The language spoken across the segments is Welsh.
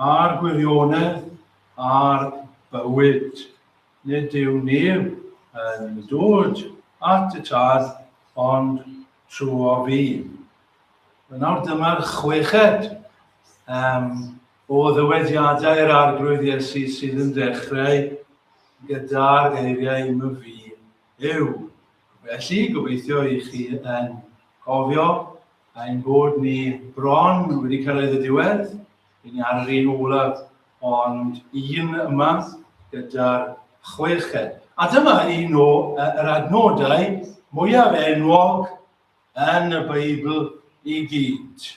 A'r gwirionedd a'r bywyd. Nid yw neb yn dod at y Tad ond trwyo fi. Wel nawr dyma'r chweched um, o ddywediadau'r Arglwydd Iesu sydd yn dechrau gyda'r geiriau my fi yw. Felly, gobeithio i chi yn cofio ein bod ni bron wedi cyrraedd y diwedd. Rydyn ni ar yr un olaf, ond un yma gyda'r chweched. A dyma un o yr adnodau mwyaf enwog yn y Beibl i gyd.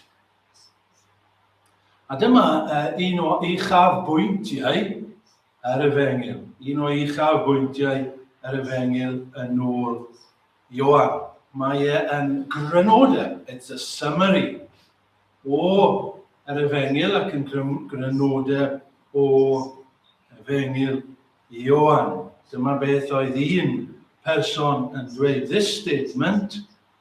A dyma un o uchaf bwyntiau yr Efengyl, un o uchaf bwyntiau yr Efengyl yn ôl Ioan. Mae e yn grynodeb, it's a summary, o yr Efengyl ac yn grynodeb o Efengyl Ioan. Dyma beth oedd un person yn dweud, this statement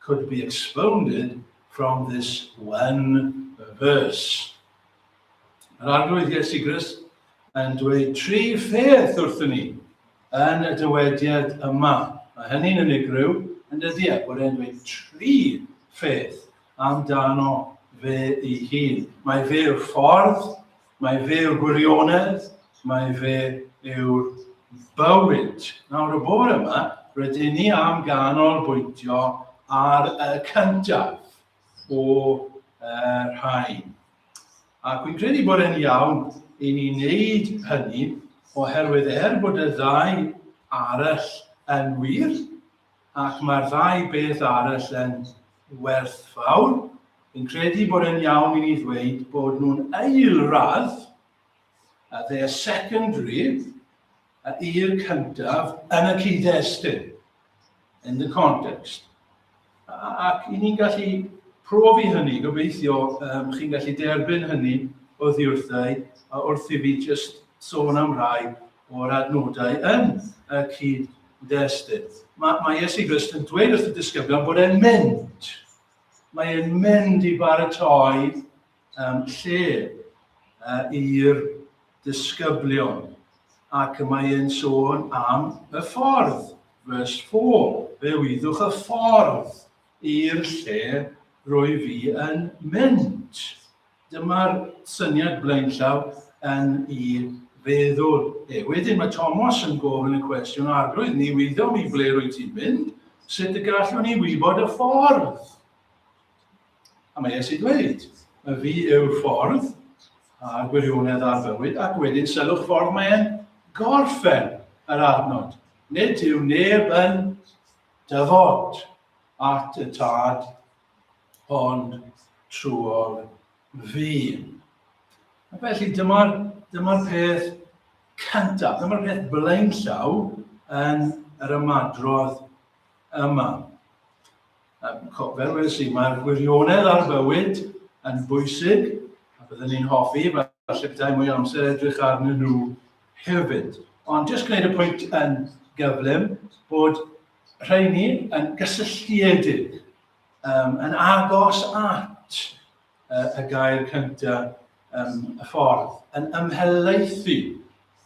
could be expounded from this one verse. Yr arglwydd Iesu Grist yn dweud tri pheth wrthyn ni yn y dywediad yma. Mae hynny'n unigryw yn dydy a bod e'n dweud tri pheth amdano fe ei hun. Mae fe'r ffordd, Mae fe yw'r gwirionedd, mae fe yw'r bywyd. Nawr y bore yma, rydyn ni am ganolbwyntio ar y cyntaf o uh, rhain. Ac fi'n credu bod e'n iawn i ni wneud hynny oherwydd er bod y ddau arall yn wir, Ac mae'r ddau beth arall yn werthfawr. Fi'n credu bod e'n iawn i ni ddweud bod nhw'n aelradd, uh, they are secondary, uh, i'r cyntaf yn y cyd-destun, in the context. Ac i ni'n gallu profi hynny, gobeithio um, chi'n gallu derbyn hynny o ddiwrthau, a wrth i fi just sôn am rai o'r adnodau yn y cyd-destun. Mae, mae Iesu Grist yn dweud wrth y disgyblion bod e'n mynd. Mae e'n mynd i baratoi um, lle uh, i'r disgyblion. Ac mae e'n sôn am y ffordd, vers 4. Fe wyddwch y ffordd i'r lle rwy fi yn mynd. Dyma'r syniad blaenllaw yn i feddwl e. Wedyn mae Tomos yn gofyn y cwestiwn, Arglwydd, ni wyddom mi ble rwy ti'n mynd, sut y gallwn ni wybod y ffordd? A mae Iesu dweud, y fi yw'r ffordd a gwirionedd ar fywyd, ac wedyn sylwch ffordd mae'n gorffen yr adnod. Nid yw neb yn dyfod at y tad ond trwy'r ddyn. A felly dyma'r dyma peth cyntaf, dyma'r peth blaenllaw yn yr ymadrodd yma. Fel wedi i, mae'r gwirionedd ar fywyd yn bwysig, a byddwn ni'n hoffi, falle byddai mwy amser edrych arnyn nhw hefyd. Ond jyst gwneud y pwynt yn gyflym bod rheini yn gysylltiedig um, yn agos at uh, y gair cyntaf um, y ffordd, yn ymhelaethu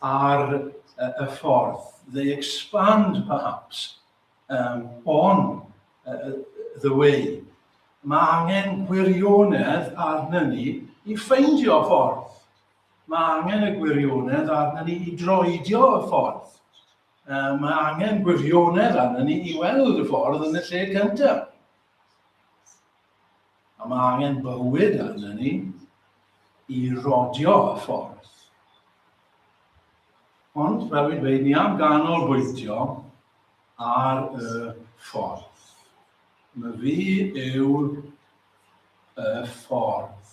ar uh, y ffordd. They expand, perhaps, um, on uh, the way. Mae angen gwirionedd arna ni i ffeindio ffordd. Mae angen y gwirionedd arna ni i droedio y ffordd. Um, mae angen gwirionedd arnyn ni i weld y ffordd yn y lle cyntaf. A mae angen bywyd arnyn ni i rodio y ffordd. Ond, fel fi'n dweud, ni am ganol bwyntio ar y ffordd. Mae fi yw y ffordd.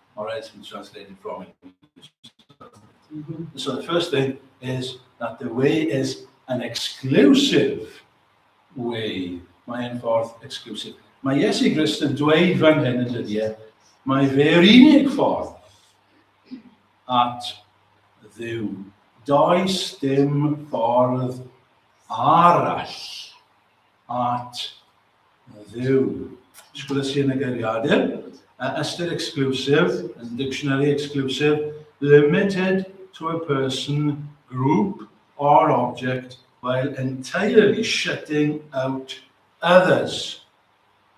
or else we translate it from English. Mm -hmm. So the first thing is that the way is an exclusive way. Mae e'n ffordd exclusive. Mae Iesu Grist yn dweud fan hyn yn dydy e, mae fe'r unig ffordd at ddiw. Does dim ffordd arall at Mae dduw. Sgwrs i yn y geiriadur. A ystyr exclusive, yn dictionary exclusive, limited to a person, group or object while entirely shutting out others.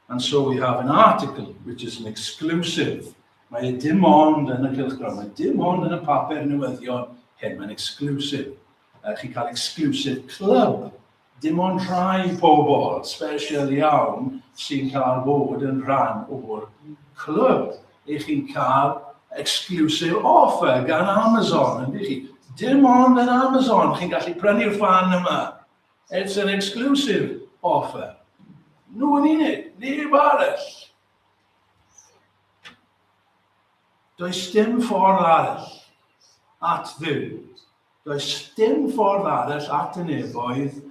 And so we have an article which is an exclusive. Mae e dim ond yn y cylchgrawn, mae dim ond yn y papur newyddion hyn, mae'n exclusive. Uh, chi'n cael exclusive club Dim ond rhai pobl sbesial iawn sy'n cael bod yn rhan o'r clwb. Ych chi'n cael exclusive offer gan Amazon, yn dych chi? Dim ond yn Amazon chi'n gallu prynu'r fan yma. It's an exclusive offer. Nhw yn unig, neb arall. Does dim ffordd arall at ddim Does dim ffordd arall at y nefoedd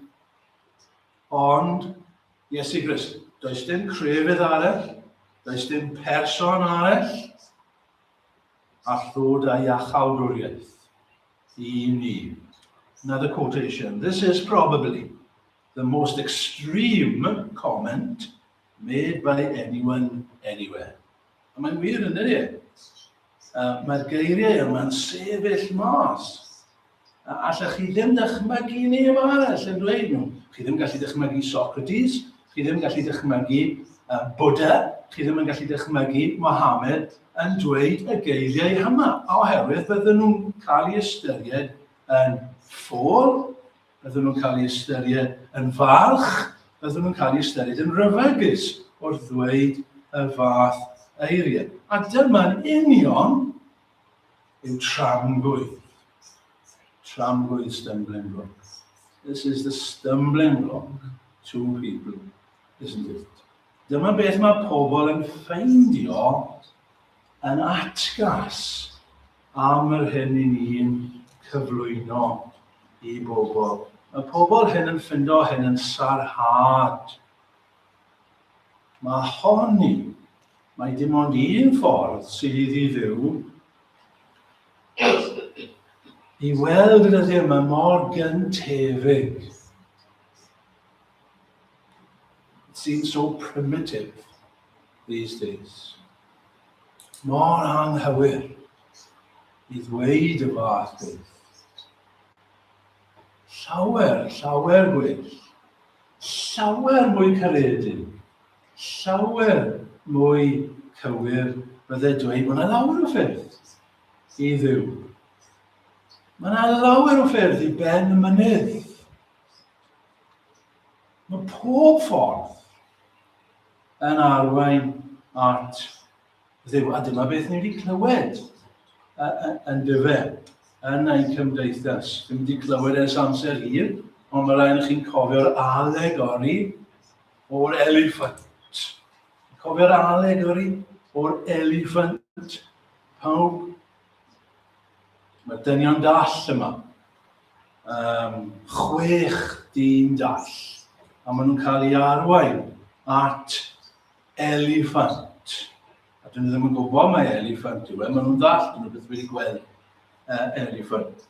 ond Iesu Grist. Does dim crefydd arall, does dim person arall, a llwyd a iachawdwriaeth i ni. Another quotation. This is probably the most extreme comment made by anyone anywhere. A mae'n wir yn ydy. Mae'r geiriau yma'n sefyll mas. A allech chi ddim dychmygu neb arall yn dweud nhw. Chi ddim gallu dychmygu Socrates, chi ddim gallu dychmygu uh, Buddha, chi ddim yn gallu dychmygu Mohammed yn dweud y geiriau yma, oherwydd bydden nhw'n cael ei ystyried yn ffôl, Byddwn nhw'n cael eu ystyried yn falch, byddwn nhw'n cael eu ystyried yn ryfegus wrth ddweud y fath eiriau. A dyma'n union yw tramgwydd. Tramgwydd stumbling block. This is the stumbling block to people, isn't it? Dyma beth mae pobl yn ffeindio yn atgas am yr hyn i ni'n cyflwyno i bobl. Mae pobl hyn yn ffindo hyn yn sarhad. Mae honni, mae dim ond un ffordd sydd i ddiddeu i weld y dyddiau yma mor gyntefig. It seems so primitive. these days. Mor anghywir i ddweud y fath beth. Llawer, llawer gwell, llawer mwy caredin, llawer mwy cywir bydde dweud mae yna lawer o ffyrdd i ddiw. Mae yna lawer o ffyrdd i ben y mynydd. Mae pob ffordd yn arwain at ddew. A dyma beth ni wedi clywed yn dyfe yn ein cymdeithas. Dwi'n wedi clywed ers amser hir, ond mae rhaid i chi'n cofio'r alegori o'r eliffant. Cofio'r alegori o'r eliffant. Pawb Mae dynion dall yma. Um, chwech dyn dall. A maen nhw'n cael ei arwain at eliffant. A dyn nhw ddim yn gwybod mae eliffant yw e. Maen nhw'n dall, dyn nhw beth wedi gweld uh, eliffant.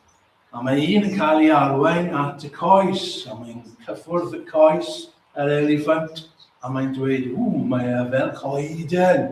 A mae un yn cael ei arwain at y coes, a mae'n cyffwrdd y coes yr eliffant, a mae'n dweud, ww, mae e fel coeden.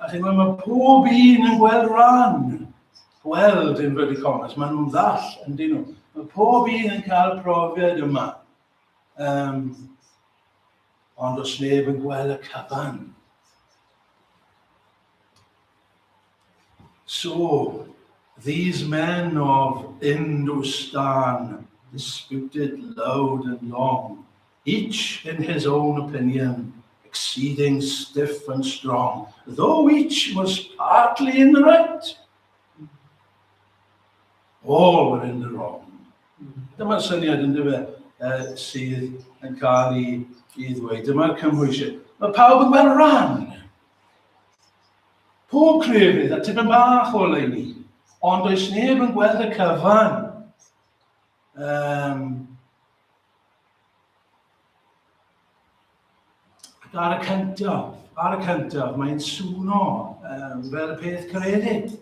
A chi'n gwybod, mae pob un yn gweld rhan, gweld yn rydych onest, maen nhw'n ddall yn dyn nhw. Mae pob un yn cael profiad yma. Um, ond os neb yn gweld y cyfan. So, these men of Hindustan disputed loud and long Each in his own opinion, exceeding stiff and strong, though each was partly in the right, all were in the wrong. Dyma'r syniad yn dyfa uh, sydd yn cael ei, ei ddweud. Dyma'r cymhwysiau. Mae pawb yn gweld rhan. Pob crefydd a tipyn bach o leini. Ond does neb yn gweld y cyfan. Um, Ac ar y cyntaf, ar y cyntaf, mae'n swno um, fel y peth credyd.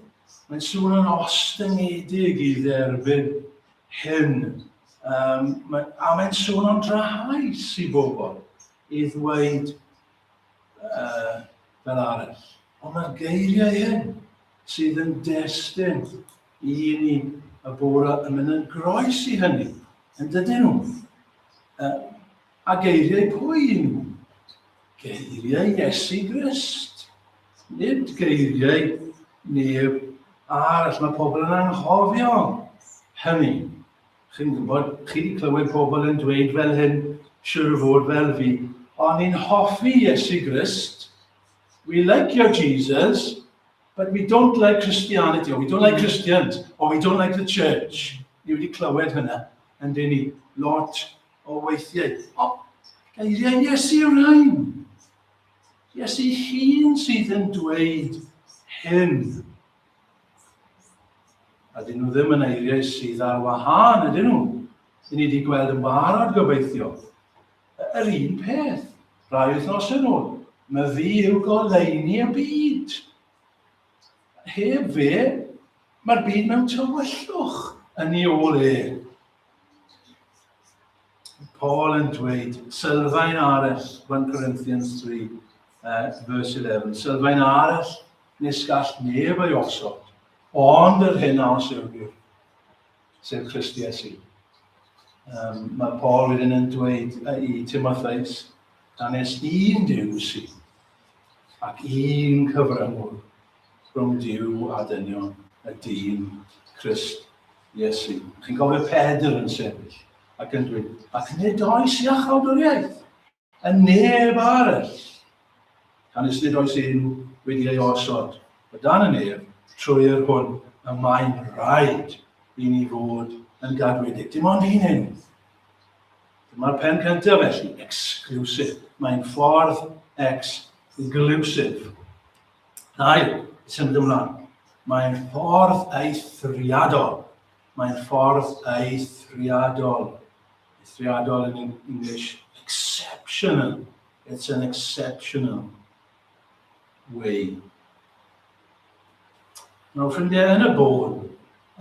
Mae'n swno'n ostyngedig i dderbyn hyn. Um, mae, a mae'n swno'n drahaus i bobl i ddweud uh, fel arall. Ond mae'r geiriau hyn sydd yn destyn Y ni y bore yn mynd yn groes i hynny, yn dydyn nhw. A geiriau pwy i nhw? Geiriau Iesu Grist. Nid geiriau neb arall. Mae pobl yn anghofio hynny. Chi'n gwybod, chi wedi clywed pobl yn dweud fel hyn, siwr o fod fel fi, o'n i'n hoffi Iesu Grist, we like your Jesus, But we don't like Christianity, or we don't like Christians, or we don't like the church. Ni wedi clywed hynna yn dyn ni lot o weithiau. O, geiriau Iesu yw'r rhain. Iesu hun sydd yn dweud hyn. A dyn nhw ddim yn eiriau sydd ar wahân, ydyn nhw? Dyn ni wedi gweld yn barod gobeithio Yr un peth, rai wythnos yn ôl, mae fi yw goleini y byd. Heb fe, mae'r byd mewn tywyllwch yn ei ôl e. Paul yn dweud, sylfaen arall, 1 Corinthians 3, uh, verse 11, sylfaen arall nes gall neb ei osod, ond yr hyn a os yw'r sef Christ Iesu. Um, mae Paul wedyn yn dweud i Timotheus, da nes un diw si, ac un cyfrymwr rhwng diw a dynion y dyn Christ Iesu. Chi'n gofio Pedr yn sefyll ac yn dweud, ac nid oes i achawdwriaeth. A neb arall! Canys nid oes un wedi ei osod o dan y nef trwy yr hwn y mae'n rhaid i ni fod yn gadwedig. Dim ond un hyn. Dyma'r pen cyntaf felly, exclusive. Mae'n ffordd exclusive. Dau, symud ymlaen. Mae'n ffordd eithriadol. Mae'n ffordd eithriadol. Eithriadol yn English, exceptional. It's an exceptional way. Nawr, ffrindiau, yn y bôn,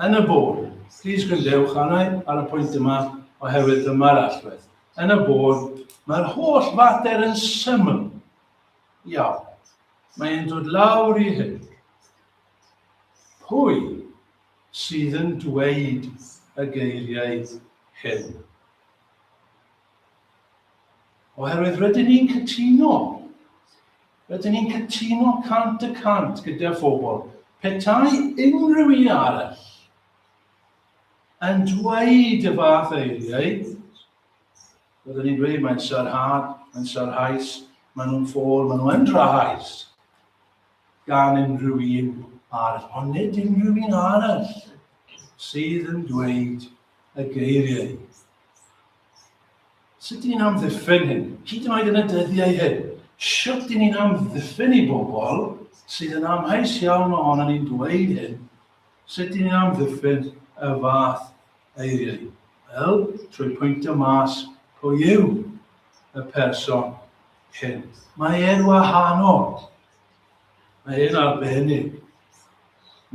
yn y bôn, plis gwrandewch arna ar y pwynt yma oherwydd dyma'r allwedd. Yn y bôn, mae'r holl fater yn syml. Iawn. Mae'n dod lawr i hyn. Pwy sydd yn dweud y geiriau hyn. Oherwydd rydyn ni'n cytuno, rydyn ni'n cytuno cant y cant gyda phobl, petai unrhyw un arall yn dweud y fath eiriau, rydyn ni'n dweud mae'n sarhad, mae'n sarhaus, maen nhw'n ffôl, maen nhw'n drahais. gan unrhyw un ar onid unrhyw un arall sydd yn dweud y geiriau. Sut dyn ni'n amddiffyn hyn? Hyd yn oed yn y dyddiau hyn, sut dyn ni'n amddiffyn i bobl sydd yn amheus iawn ohono ni'n dweud hyn, sut dyn ni'n amddiffyn y fath eiriau? Wel, trwy pwyntio mas pwy yw y person Cent. Mae e'n wahanol. Mae e'n arbennig.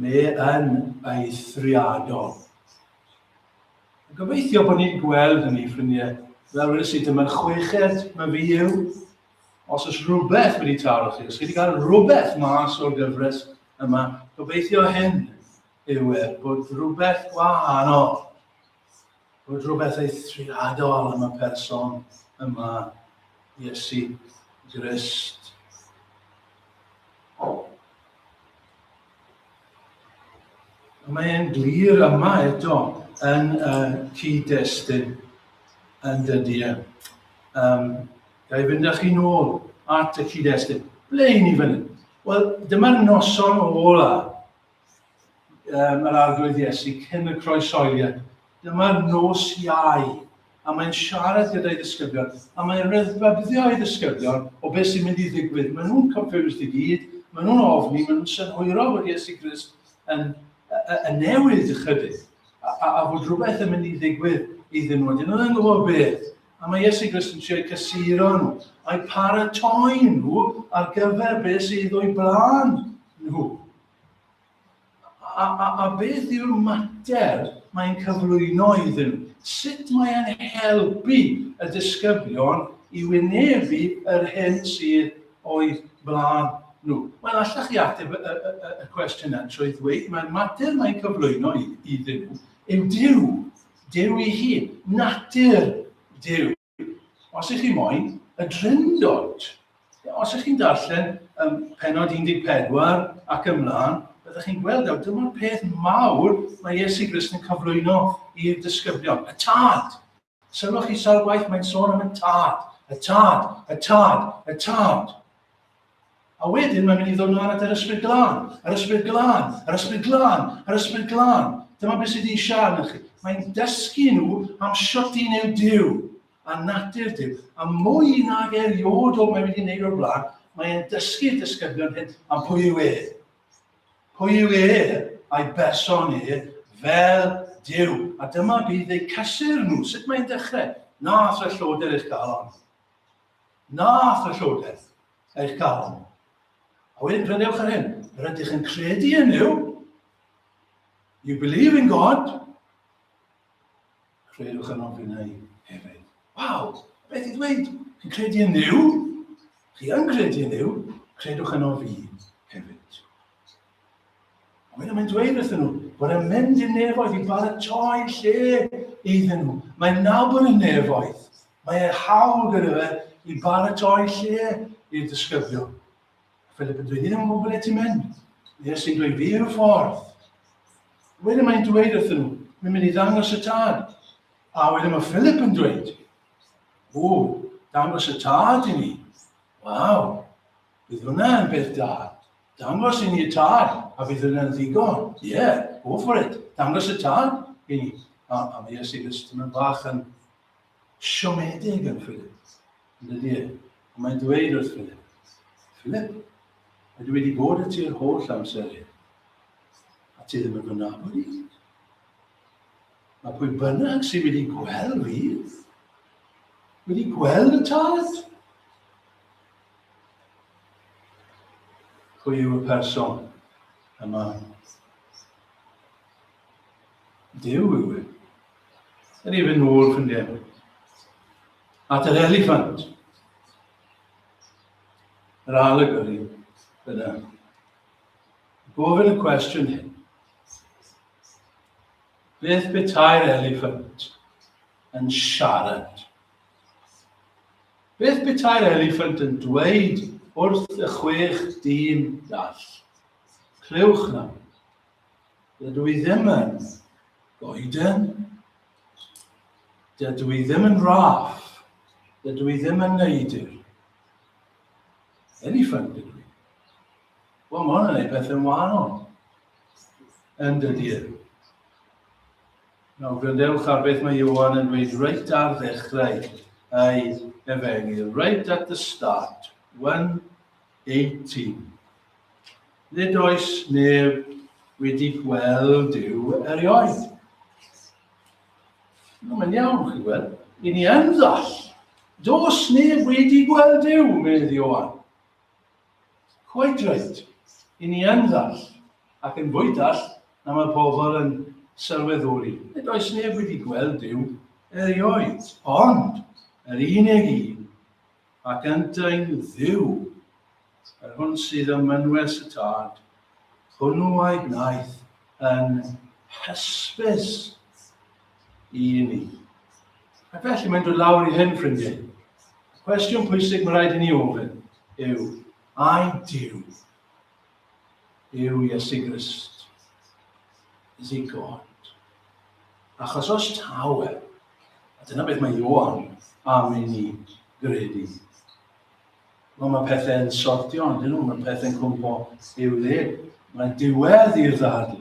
Mae e'n eithriadol. Gobeithio bod ni'n gweld hynny, ffrindiau. Fel wedi sydd dyma'n chweched mae fi yw. Os oes rhywbeth wedi taro chi, os chi wedi cael rhywbeth mas o'r gyfres yma, gobeithio hyn yw e, bod rhywbeth wahanol bod rhywbeth eithriadol am y person yma, Iesu Grist. Mae e'n glir yma eto yn y cyd-destun yn dydy e. Um, Gai fynd â chi nôl at y cyd-destun. Ble i ni fan hyn? Wel, dyma'r noson ola um, yr arglwydd Iesu cyn y croesoeliad. Dyma nos iau, a mae'n siarad gyda'i ddisgyblion, a mae'n rhyddfabyddio ei ddisgyblion o beth sy'n mynd i ddigwydd. Maen nhw'n confused i gyd, maen nhw'n ofni, maen nhw'n synhwyro bod Iesu Grist yn, yn newid ychydig, a, a, a bod rhywbeth yn mynd i ddigwydd iddyn nhw. Dyn nhw'n gwybod beth. A mae Iesu Grist yn siarad cysuro nhw, a'i paratoi nhw ar gyfer beth sydd o'i blaen nhw. A, a, a beth yw'r mater mae'n cyflwyno iddyn nhw? Sut mae'n helpu y disgyblion i wynebu yr hyn sydd o'i blaen nhw? Wel, allech chi ateb y, y, y, y cwestiwn yna trwy ddweud mae'r mater mae'n cyflwyno iddyn nhw yw Dyw, Dyw ei hun, natur Dyw. Os ych chi moyn y drindod, os ych chi'n darllen um, penod 14 ac ymlaen, byddwch chi'n gweld awr, dyma'r peth mawr mae Iesu Grist yn cyflwyno i'r disgyblion, y tad. Sylwch chi sawl gwaith mae'n sôn am y tad, y tad, y tad, y tad. A wedyn mae'n mynd i ddod nhw at yr ysbryd glân, yr ysbryd glân, yr ysbryd glân, yr ysbryd glân. Dyma beth sydd wedi eisiau arnoch chi. Mae'n dysgu nhw am siwt i neu Dyw a natur Dyw. A mwy nag eriod o mae wedi gwneud o'r blaen, mae'n dysgu dysgybion hyn am pwy yw e. Pwy yw e a'i berson e fel Dyw. A dyma bydd eu cysur nhw. Sut mae'n dechrau? Na, os fe lloder eich galon. Na, aeth y Llywodraeth, eich galon. A wedyn prynewch yr hyn, yr ydych yn credu yn Dduw. You believe in God. Credwch yn ofyn ei hefyd. Waw, beth i ddweud? Chi'n credu yn Dduw? Chi yn credu yn Dduw? Credwch yn ofyn hefyd. A wedyn mae'n dweud wrthyn nhw bod e'n mynd i'r nefoedd i baratoi lle iddyn nhw. Mae'n nabod y nefoedd. Mae e hawl gyda fe i baratoi lle i'r disgyblion. Philip yn dweud, ni ddim yn gwybod ble ti'n mynd. Nes i'n dweud, fi yw'r ffordd. Wedyn mae'n dweud wrthyn nhw, mi'n mynd i ddangos y tad. A wedyn mae Philip yn dweud, o, dangos y tad i ni. Waw, bydd hwnna yn beth da. Dangos i ni y tad, a bydd yna'n ddigon. Ie, yeah, go for it. Dangos y tad i ni. A, a mae Iesu Grist yn bach yn siomedig yn Philip. Yn dydy e. Ond mae'n dweud wrth Philip, Philip, mae wedi bod y ti'r holl amser hyn. A ti ddim yn fy nabod i. Mae pwy bynnag sydd wedi gweld fi, wedi gweld y tad. Pwy yw y person yma? Dyw yw e. Yr even nôl, ffrindiau. At yr eliffant. Yr alegori yna. Gofyn y cwestiwn hyn. Beth betai'r eliffant yn siarad? Beth beta'r eliffant yn dweud wrth y chwech dyn dall? Clywch nawr. Dydw i ddim yn goeden. Dydw i ddim yn raff. Dydw i ddim yn neidr. Eliffant dydw i. Wel, mae hwn yn ei beth yn wahanol. Yn dydy e. Nawr gwrandewch ar beth mae Ioan yn dweud reit ar ddechrau ei efengyl, right at the start, 1.18. Nid oes neb wedi gweld Dyw erioed. No, mae'n iawn, chi gweld. I ni yn ddall. Dos neb wedi gweld Dyw, medd Ioan. Coedwyllt, i ni yn ddall, ac yn fwy dall na mae pobl yn sylweddoli, nid oes neb wedi gweld Duw erioed, ond yr unig un, ac yntau'n Dduw, yr hwn sydd ym mynwes y Tad, hwnnw a'i gwnaeth yn hysbys. i ni. A felly mae'n dod lawr i hyn, ffrindiau. Y cwestiwn pwysig mae rhaid i ni ofyn yw, ai Dyw yw Iesu Grist? Is he God? Achos os taw e, a dyna beth mae Ioan am i ni gredu. Wel, mae pethau'n sortio, ond dyn nhw, mae pethau'n cwmpo i'w le. Mae diwedd i'r ddadl.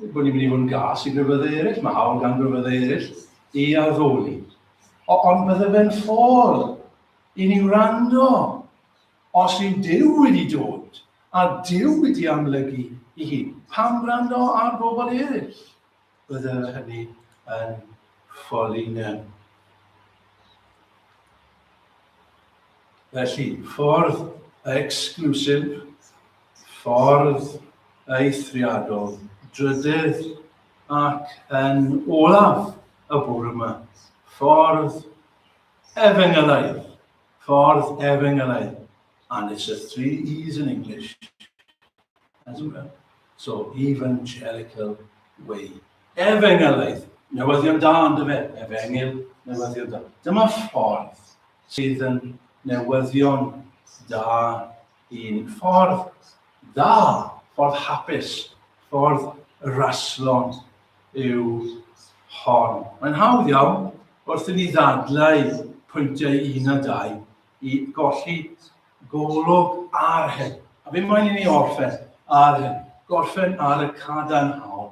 bod ni'n mynd i fod yn gas i grefyddau eraill, mae hawl gan grefyddau eraill i addoli. O, ond bydde fe'n ffôl i ni wrando os yw Dyw wedi dod a Dyw wedi amlygu i hi. Pam wrando ar bobl eraill? Bydde hynny yn ffôl i ni. Felly, ffordd exclusif, ffordd eithriadol, drydydd ac yn olaf y bwrw yma, ffordd efengylaidd, ffordd efengylaidd, and it's a three E's in English. as well. So, evangelical way. Efengylaeth, newyddion da yn dyfe, efengyl, newyddion da. Dyma ffordd sydd yn newyddion da i'n ffordd da, ffordd hapus, ffordd raslon yw hon. Mae'n hawdd iawn wrth i ni ddadlau pwyntiau un a dau i golli golwg ar hyn. A fi moyn i ni orffen ar hyn, gorffen ar y cadarnhaol.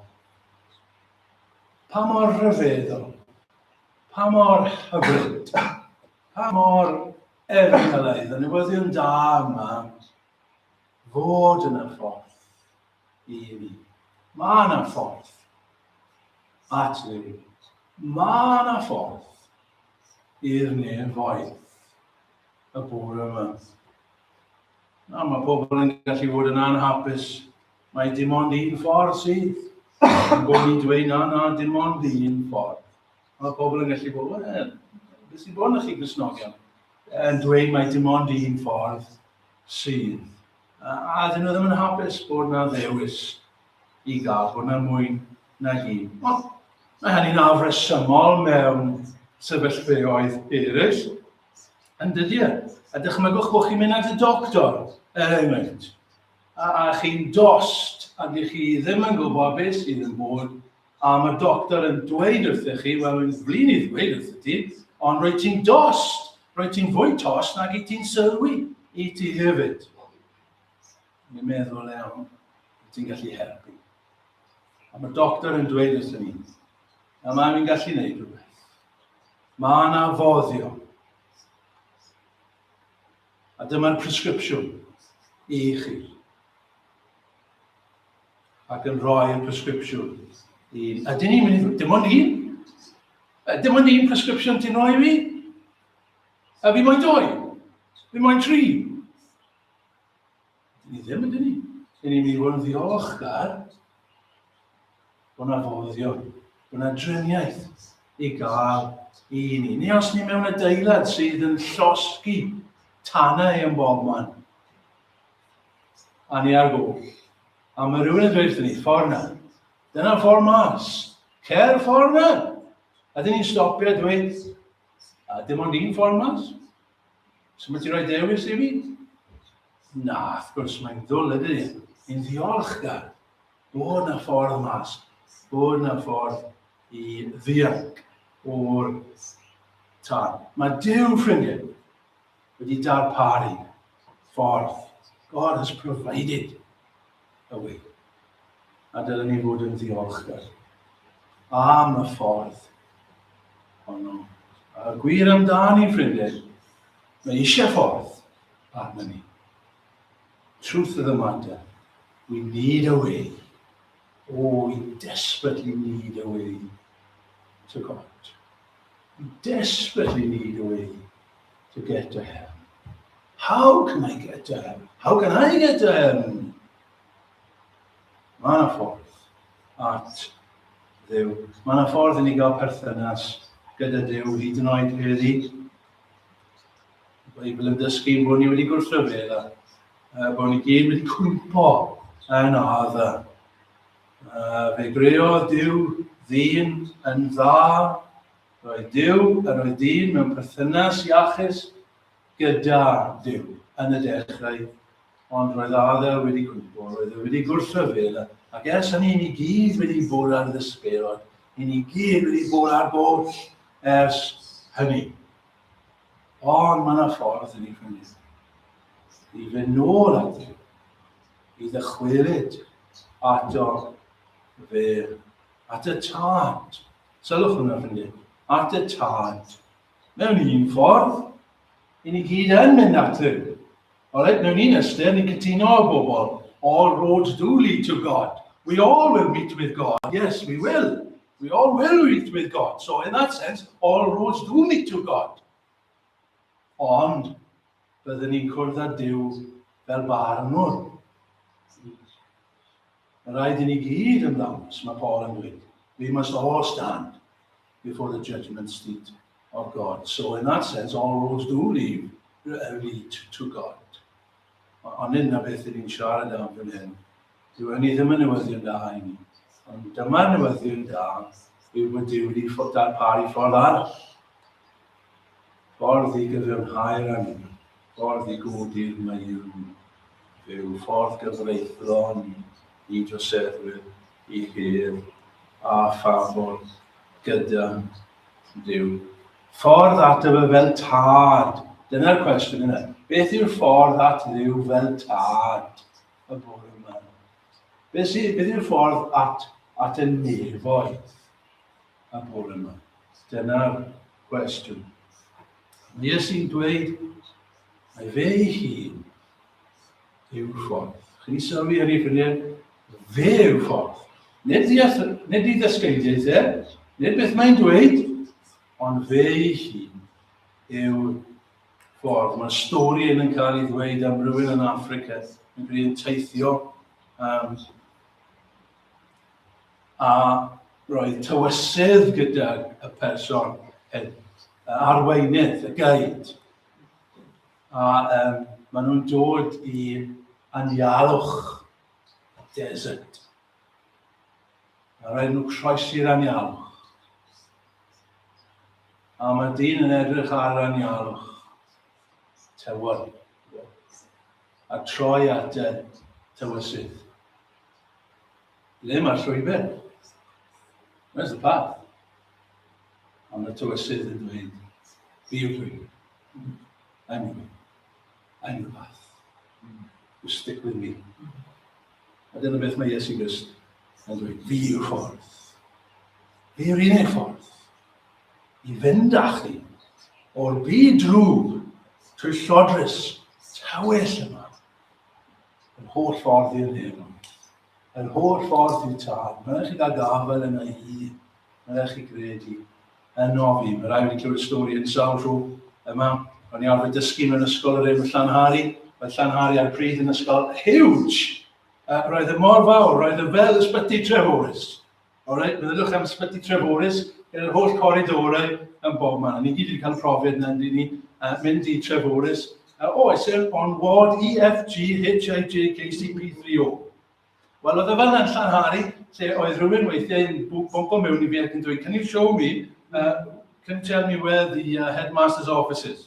Pa mor rhyfeddol, pa mor hyfryd, pa mor efelydd y newyddion da yma fod yn y ffordd i mi. Mae yna ffordd. At y byd. Mae yna ffordd i'r nefoedd y bore yma. Na, mae pobl yn gallu bod yn anhapus. Mae dim ond un ffordd sydd. Mae bod ni'n dweud na, na, dim ond un ffordd. Mae pobl yn gallu bod, wel, beth sy'n bod yn chi gysnogion? Yn dweud mae dim ond un ffordd sydd. A ydyn nhw ddim yn hapus bod na ddewis i gael, bod na mwy na un. Ond mae hynny'n afresymol mewn sefyllfeoedd eraill, yn dydy e. A dychmygwch bod chi'n mynd at y doctor, er enghraifft, a, a chi'n dost, a dych chi ddim yn gwybod beth sydd yn bod A mae'r doctor yn dweud wrthych chi, wel, rwy'n flin i ddweud wrthych ti, ond rwyt ti'n dost, rwyt ti'n fwy tost nag i ti'n sylwi i ti hefyd. Ni'n meddwl iawn, rwyt ti'n gallu helpu. A mae'r doctor yn dweud wrthych ni, a mae'n ni'n gallu gwneud rhywbeth. Mae yna foddio. A dyma'r presgripsiwn i chi. ac yn rhoi'r presgripsiwn i... A dyn ni'n mynd i... Dim ond un? Dim ond un presgripsiwn ti'n rhoi i fi? A fi moyn dwy? Fi moyn tri? Dyn ni ddim, ydyn ni? Dyn ni'n mynd i fod yn ddiolchgar bod yna foddion, bod yna driniaeth i gael i ni. Ni os ni mewn adeilad sydd yn llosgi tanau yn bob man, A ni ar goll. A mae rhywun yn dweud wrthyn ni, ffordd na. Dyna'r ffordd mas. Cer ffordd na. A dyn ni'n stopio a dweud, a dim ond un ffordd mas. So mae ti roi dewis i fi? Na, wrth gwrs, mae'n ddwl ydy. Yn ddiolchgar bod na ffordd mas, bod na ffordd i ddianc o'r tân. Mae Dyw, ffrindiau, wedi darparu ffordd. God has provided a way. A dylen ni fod yn ddiolchgar am y ffordd honno. A y gwir amdani, ffrindiau, mae eisiau ffordd arna ni. Truth of the matter, we need a way. Oh, we desperately need a way to God. We desperately need a way to get to heaven? How can I get to heaven? How can I get to heaven? Mae yna ffordd at ddew. Mae yna ffordd i ni gael perthynas gyda Dyw hyd yn oed heddi. Beibl yn dysgu bod ni wedi gwrthryfel a uh, bod ni gyd wedi cwmpo yn odd. Uh, fe greo Dyw ddyn yn dda Roedd Duw a roedd dyn mewn perthynas iachus gyda Duw yn y dechrau, ond roedd Adel wedi cwympo, roedd e wedi gwrthryfel, ac ers hynny ni gyd wedi bod ar ddysbeirod, i ni gyd wedi bod ar goll ers hynny. Ond mae yna ffordd yn ei ffynnydd. I fynd nôl at Duw, i ddychwelyd ato fe, at y tad, Sylwch hwnna felly, at y tad. Mewn un ffordd, i ni gyd yn mynd at hyn. Alright, mewn un ystyr, ni'n cytuno â bobl. All roads do lead to God. We all will meet with God. Yes, we will. We all will meet with God. So in that sense, all roads do meet to God. Ond, byddwn ni'n cwrdd â Dyw fel barnwr. Mae'n rhaid i ni gyd ymddangos, mae Paul yn dweud, we must all stand before the judgment seat of God. So in that sense, all roads do lead, uh, lead to God. Ond hyn na beth ni'n siarad am fan hyn. Dyw hynny ddim yn newyddion da i ni. Ond dyma'r newyddion da yw bod Dyw wedi darparu ffordd arall. Ffordd i gyfiawnhau'r angen. Ffordd i godi'r Maew fe yw ffordd gyfreithlon i droseddwyr i hir a phafol gyda Duw. Ffordd ato fe fel tad. Dyna'r cwestiwn yna. Beth yw'r ffordd at Dduw fel tad y bore yma? Beth, beth yw'r ffordd at, at y nefoedd? y bore yma? Dyna'r cwestiwn. Mae Iesu'n dweud, mae fe ei hun yw'r ffordd. Chi'n ei sylwi ar ei ffrindiau? Fe yw'r ffordd. Nid, ddeall, nid i ddysgeidiaeth e, nid beth mae'n dweud, ond fe ei hun yw'r ffordd. Mae stori yn yn cael ei ddweud am rywun yn Africa yn gwneud teithio um, a roedd tywysydd gydag y person hyn, y arweinydd, y guide. A um, maen nhw'n dod i anialwch y desert. A roedd nhw'n croesi'r anialwch. A mae dyn yn edrych ar anialwch tywod. A troi at deddf tywysydd. Ble mae'r llwybr? Where's the path? A mae tywysydd yn dweud, fi yw'r llwybr. I'm the way. I'm the path. You stick with me. A dyna beth mae Iesu Grist yn dweud, fi yw'r ffordd. Fi yw'r unig ffordd. i fynd â chi o'r byd drwg trwy llodrus tywyll yma. Yr holl ffordd i'r nefn, yr holl ffordd i'r tân, mae'n rhaid chi gael gafael yna i hi, mae'n rhaid chi gredu yno fi. Mae'n rhaid fi clywed stori yn sawl rhw yma. O'n i arfer dysgu mewn ysgol yr enw Llanhari, oedd Llanhari ar y pryd yn ysgol huge! Uh, roedd y e mor fawr, roedd y e fel ysbyty Treforys. Alright, meddylwch am Ysbyty Treforys, gyda yr holl coridorau yn bob man. Ni gyd wedi cael profiad yna, ynddi ni, uh, mynd i Treforys. Uh, oh, I sail on ward E, F, G, H, I, J, K, C, P, 3, O. Wel, oedd y fel yn llanhari, lle oedd rhywun weithiau yn bwmpo mewn i fi ac yn dweud, can you show me, uh, can you tell me where the uh, headmaster's office is?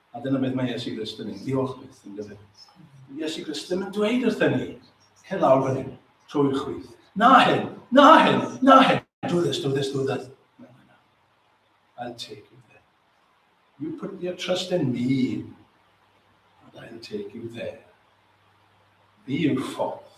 A dyna beth mae Iesu Grist yn ei ddiolch beth yn gyfer. Iesu Grist ddim yn dweud wrth ni, hyn lawr fan hyn, trwy'r chwith. Na hyn, na hyn, na hyn. Do this, do this, do that. No, no, no. I'll take you there. You put your trust in me, and I'll take you there. Fi yw'r ffordd,